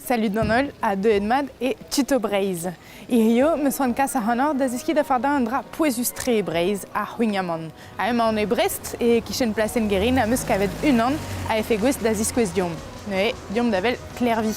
Salud d'an holl ha deuet mat e Tuto Breizh. Hirio, 'meus c'hoant kas ac'hanoc'h da zeskiñ da fardañ un dra pouezus-tre e Breizh, ar c'hwignamant. Ha emaon e Brest, e kichen plasenn Guerin am eus kavet unan a efe gouest da ziskouez deomp. Neuze, deomp da wel Klervi.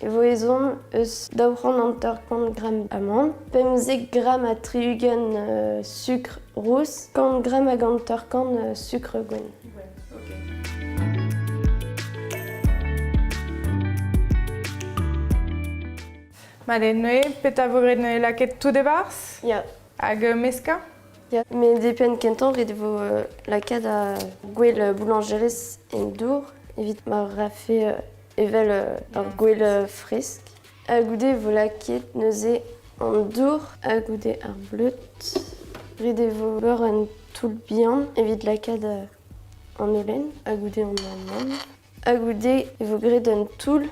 e vo ezhomm eus daou c'hant hanter-kant gramm amann, pemzek gramm ha tri-ugent sukr rous, kant gramm hag hanter-kant sukr gwenn. Ma eo neuze, petra vo graet neuze lakaet tout e-barzh? Ya. Hag euh, meskañ? Ya, met depend kentoc'h ret vo euh, lakaat gwell boulangerez en dour evit ma rafe euh, evel ur gwel fresk. Ha goude e vo lakaet neuze an dour ha goude ar bleud. Ret e vo ober un toull bihan evit lakaat an holen ha goude an amann. Ha goude e vo graet un toull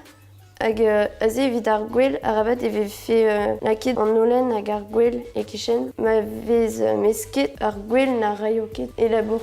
hag aze evit ar gwel arabat e vefe lakaet an holen hag ar gwel e-kichen ma vez mesket ar gwel na raio ket e labour.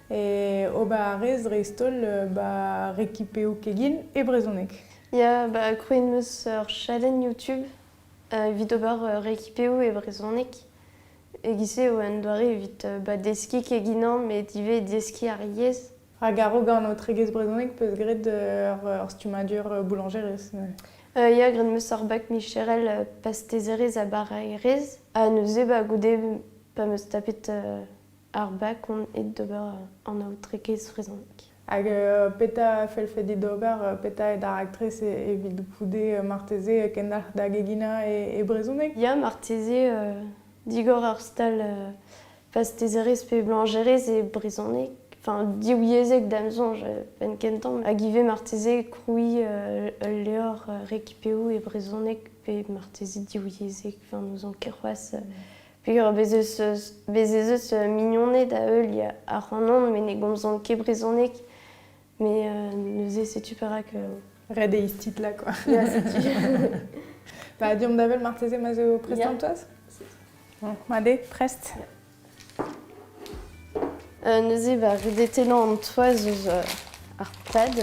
ober a rez dreist-holl ba rekipeoù kegin e brezhoneg. Ya, bah krouet 'meus ur chalenn YouTube evit ober rekipeoù e brezhoneg. E-giz-se eo un doare evit bah deskiñ keginañ met ivez deskiñ ar yezh. Hag a-raok an aotregezh brezhoneg 'peus graet ur stummadur boulañjerez neuze? Ya, graet 'meus ar bak micherel pastezerezh ha baraerezh. Ha neuze bah goude pa 'meus tapet ar bac on aet d'ober an aotrekez vrezhonek. Hag petra fellfe dit ober? Petra eo da raktres evit goude marteze kendalc'h da geginañ e brezhoneg? Ya, marteze digor ur stal pastezerezh pe blañjerez e brezhoneg, enfin diwyezhek da'm soñj penn-kentañ, hag ivez marteze krouiñ ul levr rekipeoù e brezhoneg pe marteze diwyezhek, enfin n'ouzon ket c'hoazh Peogwir bez ez eus mignoned a-heuliañ ac'hanon met ne gomzan ket brezhoneg. Mais neuze setu perak... Red eo titlañ quoi. Ya, setu. Bah, deomp d'avel marteze ma zo prestant-toaz Bon, allez, prest. Euh, neuze, bah, redetelañ an toaz eus ar pad,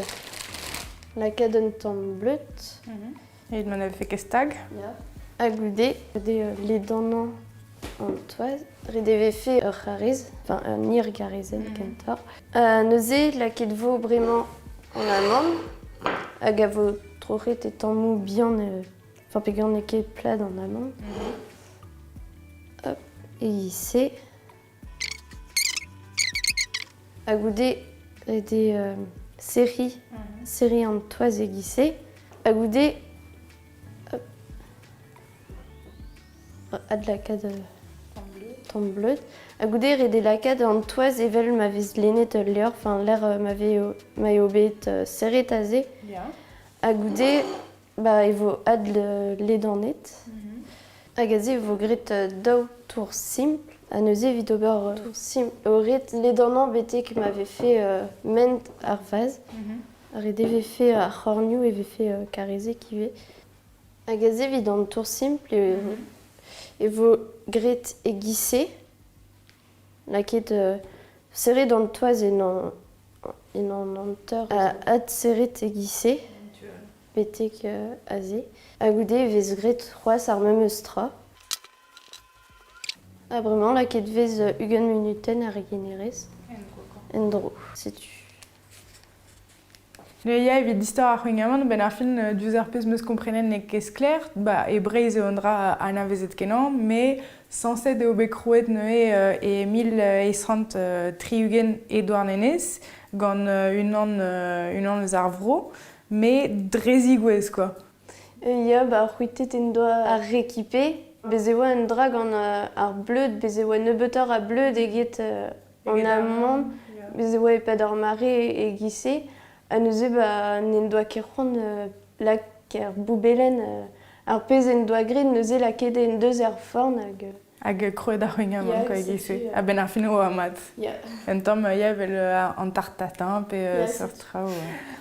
la cadenn tan bleut. Mm -hmm. Evit ma ne vefe ket stag. Ya. Ha goude, goude euh, ledanañ an toaz, ret e vefe ur c'hariz, enfin un irgarizenn mhm. kentoc'h. Euh, neuze, laket vo bremañ en amand, hag a vo troc'het e tammoù bihan, euh, enfin pegan n'eo ket plat en amand. Mhm. Hop, et ici, Ha goude ede euh, serri, serri an toaz e-giz-se. Ha goude adlakaat tamm bleud. Ha goude rede lakaat an toaz evel ma vez lennet ul levr, enfin l'air euh, ma, euh, m'avait bet serret aze. Yeah. Ha goude Bah, e vo adl euh, ledanet. Mhm. Hag aze e vo graet euh, daou tour simpl. Ha neuze, evit ober euh, tour simpl, eo ret ledanañ betek ma ve fait euh, ment ar vaz. Mhm. Ret e ve fait ar c'hornioù e ve fait euh, karrezek ivez. Hag aze, evit an tour simpl, e, mhm. e vo graet e gise. N'a ket serret an toaz en an hanter adserret e-giz-se betek aze. Ha goude e vez graet c'hoazh ar memes tra. Ha bremañ n'a ket vez ugent munutenn er renerezh. En-dro, setu. Ne ya evit istor ar c'houign-amann a-benn ar fin. euh, diouzh ar pezh 'm eus komprenet n'eo ket sklaer. Bah, e Breizh eo un dra anavezet-kenañ, mais sañset eo bet krouet neuze euh, e mil eizh c'hant euh, tri-ugent e Douarnenez, gant euh, unan euh, unan eus ar vro, mais dre zigouez, quoi. Ya, ba c'hwitet en doa ar Réquipé. Bez' e oa un dra gant euh, ar bleud, bez' e oa nebeutoc'h a bleud eget euh, En amont, bez e oa e-pad ar mare e-giz-se, ha neuze ba, n'en doa ket c'hoant euh, lak er boubelenn euh, ar pezh en doa graet, neuze lakaet en deus er forn hag... euh, Hag krouet ar c'hwingaman Ya, quoi, setu, e-giz-se. euh, A-benn ar fin e oa mat. Ya, Un tamm euh, ya, evel euh, an tartatin pe euh, yeah, seurt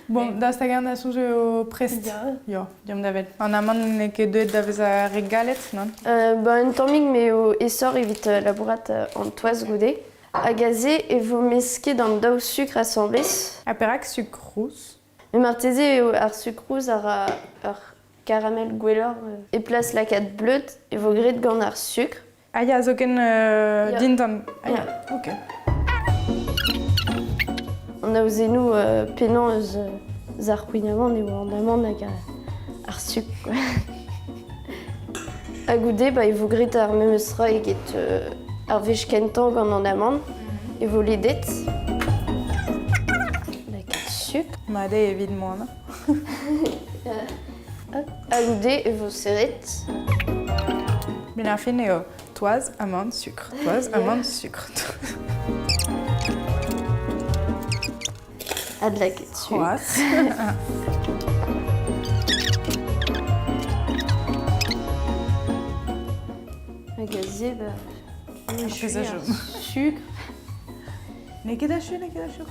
Bon, da hag a soñj eo prest. Ya. Diom davet. An amann n'eo ket deuet da vezañ re galet, non? Euh, bah, un tammig m'eo esoc'h evit euh, labourat euh, en toaz goude. Hag aze e vo mesket an daou sukr asambles. Ha perak sukr rous? Mais marteze eo ar sucre rouge a ra ur caramel gwelloc'h. Et place lakaat bleud e vo graet gant ar sukr. Ah ya, zoken euh, dindan. Ah ya, ok. On a osé nous euh, penañ eus euh, ar c'houign-amant e oan hag ar sup. Ha goude, ba, e vo grit ar memes ra eget euh, ar wech kentañ gant an amant, e vo ledet. Da sup. Ma de evit moan. Aloubet e vo serret. Met ar fin eo toaz, amann, sucre. Toaz, amann, sucre. A de la ketchup. Un gazier, bah, jus, sucre. N'eo ket achu, n'eo ket achu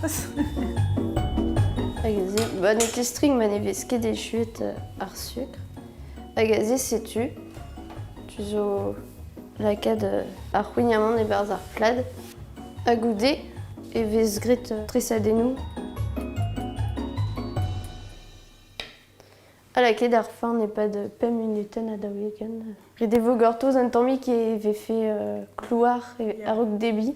Hag a-se, ba n'eo ket strik ma ne vez ket echuet euh, ar sucre. Hag a-se, setu, tu zo lakaat euh, ar c'houignamant e-barzh ar plad. Ha goude e vez graet euh, tresadennoù. Ha lakaet ar fin e-pad pemp munutenn a daoulegen. Ret e vo gortoz un tammig e vefe klouar a-raok debriñ.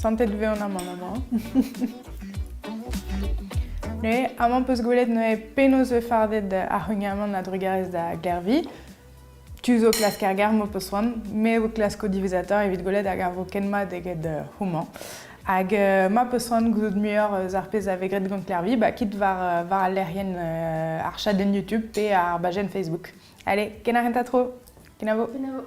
Santet eo an amann amañ. Mais amañ peus gwelet neuze penaos eo fardet ar c'huniamant a-drugarez da Gervi. Tu zo klask ar gar m'ho peus c'hoant, me vo klask o diwezatañ evit gwelet hag a vo ken mat eget euh, houmañ. Hag euh, ma peus c'hoant gouzout muioc'h eus ar pezh a vez graet gant Kervi, bah, quitte war, euh, war al lec'hienn euh, ar chadenn YouTube pe ar bajenn Facebook. Allez, ken a renta tro. Kenavo. Kenavo.